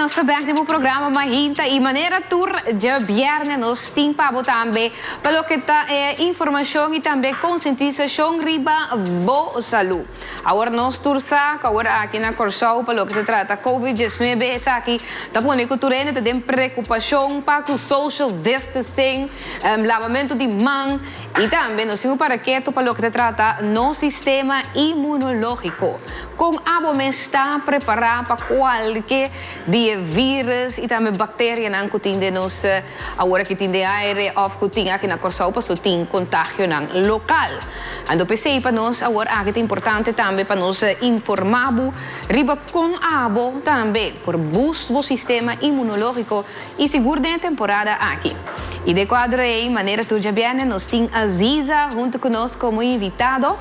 nos ta bek den bo programa Mahinta y manera tur dje bierne nos tin pa bo tambe pa loke ta e informacion y tambe consentisacion riba bo salud. Awor nos tur sa cu awor aki na Corsou pa loke ta trata Covid diesnuebe esaki ta pone cu tur hende ta den preocupacion pa cu social distancing, labamento di man y tambe nos tin un paraketu pa loke ta trata nos sistema inmunologico. Con abo mes ta prepara pa cualke di e virus y tambe bacterianan cu tin den nos. Awor aki tin den aire of cu tin aki na Corsou paso tin contagionan local. Ando p'esey pa nos awor aki ta importante tambe pa nos informa bo riba con abo tambe por boost bo sistema inmunologico y sigur den e temporada aki. Y den e cuadro ey manera tur djabierne nos tin Aziza hunto cu nos como invitado.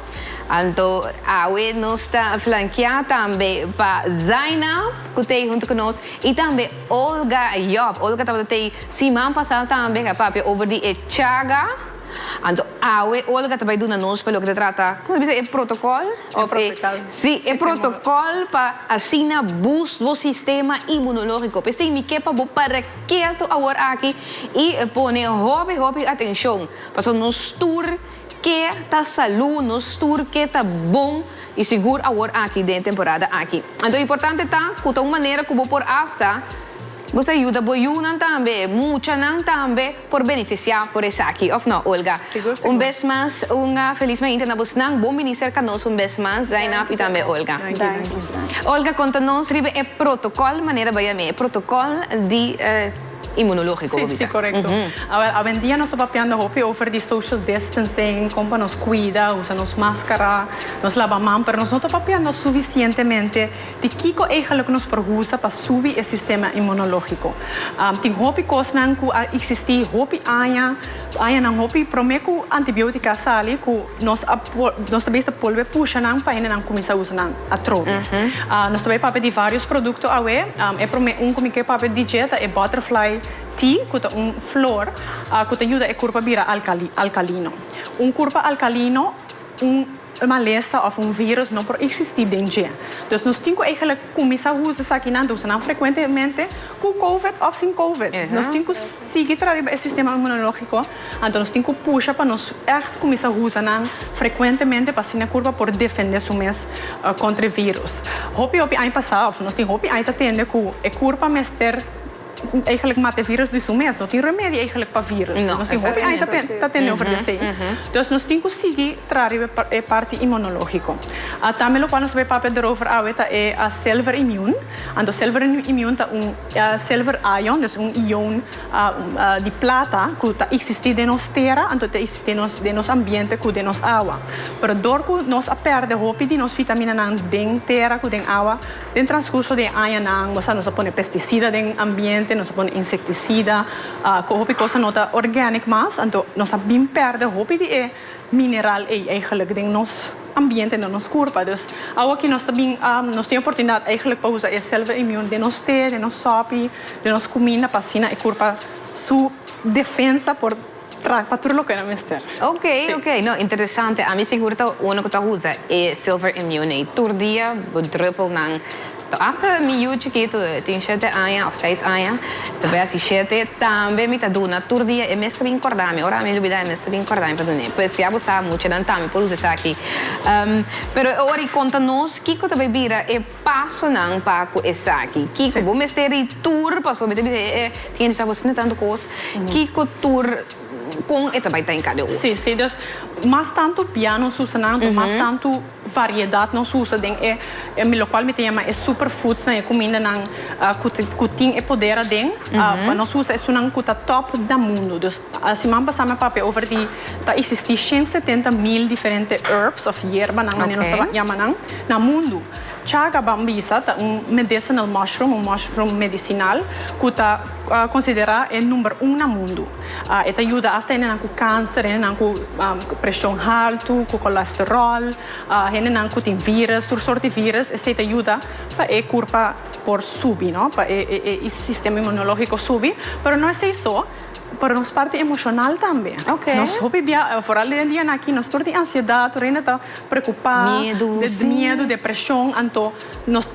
Anto awe nos ta flankea tambe pa Zainab cu t'ey hunto cu nos y tambe. Olga, Yòp, Olga tabata t'ei siman pasá tambe a papia over di e chaga. Anto awe Olga ta bai duna nos pa loke ta trata, kòm ta bisa e protokòl òf e. E protokòl. Sí, e protokòl pa asina bus bo sistema imunológiko. P'esei mi ke pa bo para ketu awor aki i pone hopi hopi atenshon. Pasobra nos tur. Ke ta salú nos tur ke ta bon i sigur awor aki den e temporada aki. Anto importante ta ku ta un manera ku bo por asta bo sa yuda bo yunan tambe, muchanan tambe por benefisiá por esaki, òf nò Olga? Sigur, sigur. Un bes mas un felis Mañita na bosnan, bon minister ka nos un bes mas Zainab i tambe Olga. Danki, danki. Danki. Olga konta nos riba e protokòl, manera bai a mi, e protokòl di. Inmunológiko, bo bisa. Sí, sí, korekto. Awel, awendia nos ta papiando hopi over di social distancing, kon pa nos kuida, usa nos máskara, nos laba man, pero nos no ta papiando sufisientemente di kiko eigelik nos por usa pa subi e sistema inmunológiko. Tin hopi kosnan ku a eksistí hopi aña, añanan hopi, promé ku antibiótika a sali, ku. Nos a nos ta bisa bolbe pusha nan pa hende nan cuminsa usa nan atrobe. Nos ta bay papia di varios producto awe. E prome un cu mi ke papia di dje ta e butterfly tea cu ta un flor cu ta yuda e curpa bira alcali alcalino. Un curpa alcalino un malesa of un virus no por existi den dje. Dus nos tin cu eigenlic cuminsa usa esaki nan ta usa nan frecuentemente cu covid of sin covid. Nos tin cu. sigui tra riba e sistema inmunológiko, anto nos tin ku pusha pa nos ègt kuminsá usa nan frekuentemente pa asina e kurpa por defendé su mes kontra e vírus. Hopi hopi aña pasá, òf nos tin hopi aña ta tende ku e kurpa mester eigelik mata e vírus di su mes. No tin remedio eigelik pa vírus. Nos tin hopi aña ta tende over di esei. Entonces nos tin ku sigui tra riba e parti inmunológiko. Tambe lokual nos a papia derover awe ta e self immune. Anto self immune ta un. Silver ion, dus un ion di plata ku ta eksistí den nos tera, anto ta eksistí den nos ambiente ku den nos awa. Pero dor ku nos a pèrdè hopi di nos vitaminanan den tera ku den awa, den transkurso di e añanan, bo sa nos a pone pestisida den ambiente, nos a pone insektisida, ku hopi kos no ta organic mas, anto nos a bin pèrdè hopi di e. mineral ei eigenlijk den nos ambiente, den nos kurpa. Dus awa ki nos ta bin, nos tin e oportunidat eigenlijk pa usa e selve imun den nos te, den nos sopi, den nos kuminda pa asina e kurpa su defensa por tra pa tur loke nan mester. Ok, ok, no interesante. Ami sigur ta uno ku ta usa e silver imun ei tur dia bo druppelnan. To asta mi yu chikitu tin shete aña of seis aña ta be asi shete tambe mi ta duna tur dia e mes ta bin korda mi ora mi lubida e mes ta bin korda mi pa dun'e pues ya bo sa muchanan tambe por usa esaki pero e ora y konta nos kiko ta bay bira e pasonan pa ku esaki kiko bo mester ri tur pasobra mi ta bisa e tin e disabos na tantu kos kiko tur kon e ta bay ta en kada ora. Si si dos mas tantu piano susanan mas tantu. Variedat nos usa den e lokual mi ta yama e superfoodsnan, e kumindanan ku tin e poder aden, pa nos usa esunnan ku ta top na mundu. Dus siman pasá mi a papia over di, ta eksistí shen setenta mil diferente herbs òf yerbanan, mane nos ta yama nan, na mundu. Chaga bambisa ta un medicinal mushroom, un mushroom medisinal, ku ta konsiderá e number un na mundu. E ta yuda asta hendenan ku kanser, hendenan ku preshon haltu, ku kolasteròl, hendenan ku tin vírus, tur sort di vírus, esei ta yuda pa e kurpa por subi, no, pa e sistema inmunológiko subi. Pero no esei so, pero nos parti emoshonal tambe. Nos hopi bia, foral di e dianan akí, nos tur tin ansiedat, tur hende ta preokupá, miedu, depreshon, anto. Nos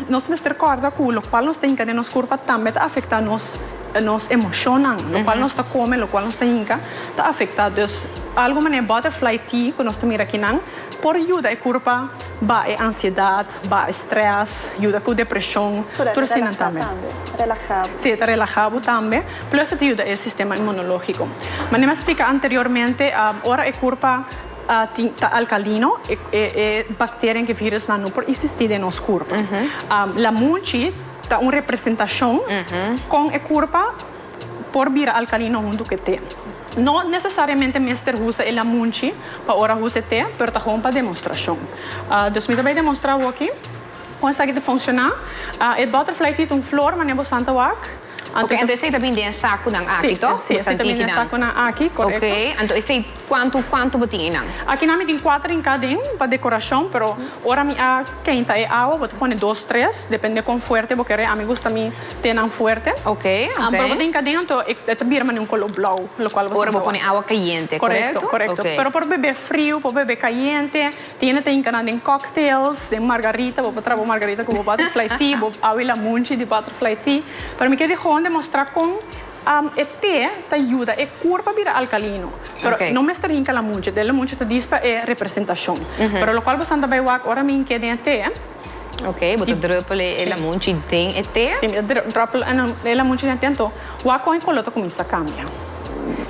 nos mester kòrda ku lokual nos ta hinka den nos kurpa tambe ta afektá nos nos emoshonnan. Lokual nos ta kome, lokual nos ta hinka ta afektá. Dus algu manera butterfly tea ku nos ta mira akinan por yuda e kurpa baha e ansiedat, baha e strès, yuda ku depreshon, tur asina tambe. Sí, e ta relahá bo tambe, plus e ta yuda e sistema inmunológiko. Manera mi a splika anteriormente, ora e kurpa. Ta alkalino, e bakterianan ku e virusnan no por eksistí den nos kurpa. Lamunchi ta un representashon kon e kurpa por bira alkalino huntu ku e te. No nesesariamente mester usa e lamunchi pa ora usa e te, pero ta hon pa demostrashon. Dus mi ta bai demostrá bo aki kon esaki ta funshoná. E butterfly tea ta un flor, manera bo san ta wak. Anto anto esey ta bin den e saku nan aki to ku bo san tiki nan ok anto esey kuantu kuantu bo tin einan. Akinan mi tin kuater in kaden pa dekorashon pero ora mi a keinta e awa bo ta pone dos tres depende kon fuerte bo kere ami gusta mi te nan fuerte pero bo tin kaden anto e ta bira mane un kolo blou lokual bo sa ora bo pone awa kayente korekto pero por bebe friu por bebe kayente. Tiene ta hinca nan den cocktails, den margarita, bo por traha bo margarita cu bo butterfly tea, bo awe la munchi di butterfly tea. Pero mi kier di gewoon demostra con e te ta yuda e cur pa bira alcalino. Pero no mester hinca la munchi, den la munchi ta dies pa e representacion. Pero locual boso a bay wak ora mi hinc'e den e te. Ok, bo ta druppel e lamunchi den e te? Si, mi ta druppel e lamunchi den e te anto wak kon e koló ta kuminsá kambia.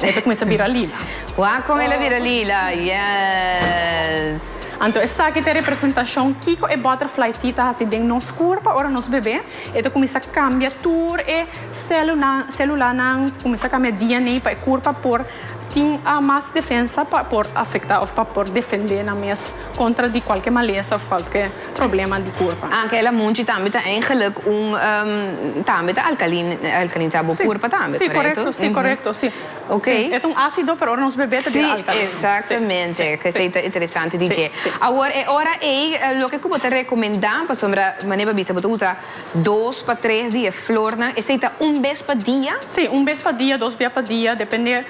E ta kuminsá bira lila. Wak kon el a bira lila, yes! Anto esaki ta e representashon kiko e butterfly tea ta hasi den nos kurpa ora nos bebe. E ta kuminsá kambia tur e sélulanan, kuminsá kambia DNA pa e kurpa por tin mas defensa pa por afektá òf pa por defendé nan mes. Contra di cualke malesa of cualke problema di curpa. Akela munchi tambe ta eigenlijk un tambe ta alcalinizá bo curpa tambe, correcto? Si, correcto, si, correcto, si. Ok. Si, e ta un ácido, pero ora nos bebé ta bira alcalino. Si, exactamente, kesei ta interesante di dje. Awor e ora ei, loke ku bo ta recomendá, pasobra Mané Babisa bo ta usa dos pa tres di e flornan, esei ta un bes pa dia? Si, un bes pa dia, dos bia pa dia, depende.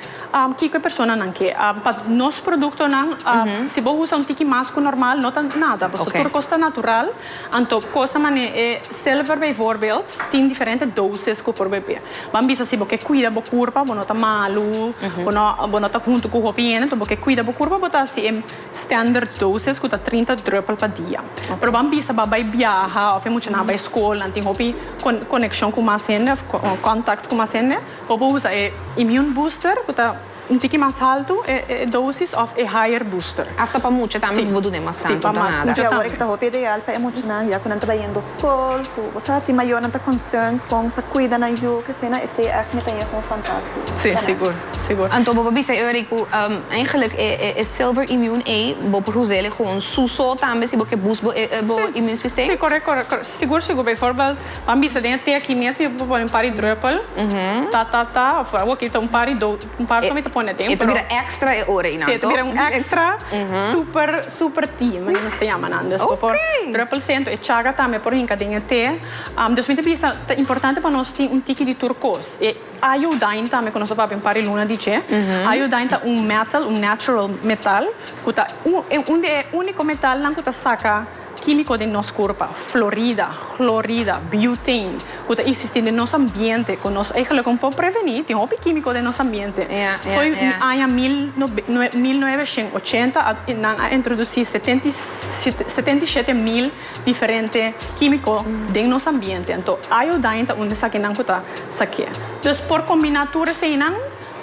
Kiko e personanan ke? Pa nos produktonan si bo usa un tiki mas ku normal no ta nada. Pasobra tur kos ta natural. Anto kosa manera e silver bijvoorbeeld tin diferente doses ku por bebé. Ban bisa si bo ke kuida bo kurpa bo no ta malu, bo no ta huntu ku hopi hende, bo ke kuida bo kurpa bo ta hasi e standard doses ku ta trinta drùpel pa dia. Pero ban bisa bo a bai biaha of e muchanan a bai skol nan tin hopi konekshon ku mas hende of kòntakt ku mas hende. O bo usa e immune booster cu ta un tiki mas haltu e dosis of e higher booster. Hasta pa mucha tambe bo dune mas tantu ta nada. Di awor e ta hopi ideal pa e muchanan ya cu nan ta bai yendo school cu bo sa ti mayornan ta concern con ta cuida nan yu cu esena esey echt mi ta yega un fantastico. Si sigur sigur. Anto bo por bisa e Eury cu eigenlijk e silver immune ey bo por usa ele gewoon su so tambe si bo ke boost bo immune system? Si correct correct sigur sigur bijvoorbeeld Pan bisa den e te aki mes mi por pone un par di druppel ta ta ta of oki e ta un par di dos un par so mi ta pone den pero. E ta bira extra e ora einan toch? Si e ta bira un extra super super tea manera nos ta yama nan dus bo por druppel sey enton e chaga tambe por hinca den e te dus mi ta bisa ta importante pa nos tin un tiki di tur cos e iodine tambe cu nos a papia un par di luna di dje iodine ta un metal un natural metal cu ta un di e unico metalnan cu ta saca. Químico den nos curpa, florida, clorida, butane, cu ta existi den nos ambiente, cu nos eigenlijke un po' preveni, tin hopi químico den nos ambiente. Foi aña mil nuebe shen ochenta a nan a introduci setenta y shete mil diferente químico den nos ambiente. Anto, iodine ta un di esakinan cu ta sa ke. Dus, por combina tur eseinan,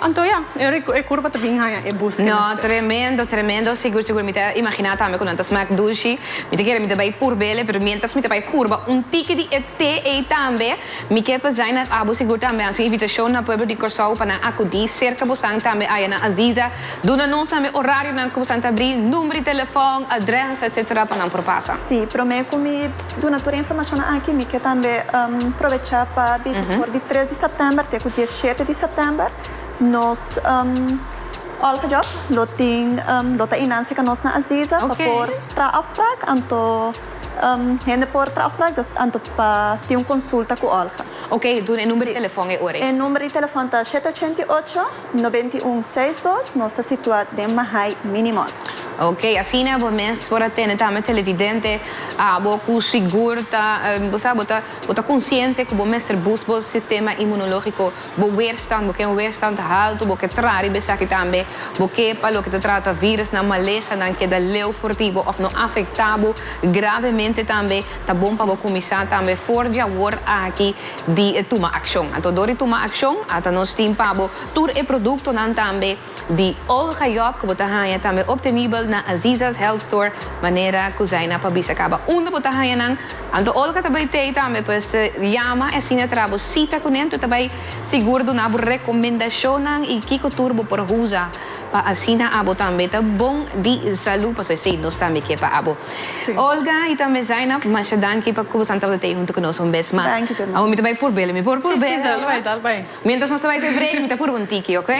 Anto ya, e curva ta bin haña e bus. No, tremendo, tremendo, sigur, sigur, mi ta imagina tambe cu nan ta smaak dushi, mi ta kere mi ta bay purbele, pero mientras mi ta bay purba un tiki di e te ey tambe, mi ke p'zai na abo sigur tambe haci un invitacion na pueblo di Corsou pa nan acudi cerca bosan tambe aya na Aziza, duna nos tambe horarionan cu bosan ta abri, number di telefon, address, etc. pa nan por pasa. Sí, prome cu mi. Duna tur e informacionnan aki mi ke tambe probecha pa bisa ku for di tres di sèptèmber te ku dies i shete di sèptèmber nos òlgejob lo tin lo ta innan seka nos na Aziza pa por traha afsprak anto hende por traha afsprak dus anto pa tin un konsulta ku òlge. Oke duna e number di telefòn e ora ei. E number di telefòn ta shete ochenta i ocho. Noventa i un seis dos, Nos ta situá den Mahay Minimon. Ok, asina bo mes por a tene tambe televidente abo ku sigur ta, bo sa, bo ta, bo ta konsiente ku bo mester bus bo sistema inmunológiko, bo weerstand, bo ken weerstand haltu, bo ke tra riba esaki tambe, bo ke pa loke ta trata vírùsnan, malesanan, keda leu for di bo òf no afektá bo gravemente tambe, ta bon pa bo kuminsá tambe for di awor aki. di e tuma akshon. Anto dor di tuma akshon ata nos tin pa bo tur e produktonan tambe di Olga Job ku bo ta haña tambe optenibel na Aziza's Health Store manera ku Zaina pa bisa kaba unda bo ta haña nan. Anto Olga ta bai tei tambe pues yama e asina traha bo sita kunen, tur ta bai sigur duna bo rekomendashonnan i kiko tur bo por usa. Pa asina abo tambe ta bon di salu, pasobra esei nos tambe ke pa abo. Olga i tambe Zainab, masha danki pa ku boso a tabata tei huntu ku nos un bes mas. Abo mi ta bai purbel, mi por purbel awa? Mientras nos ta bai pa e break mi ta purba un tiki, oke?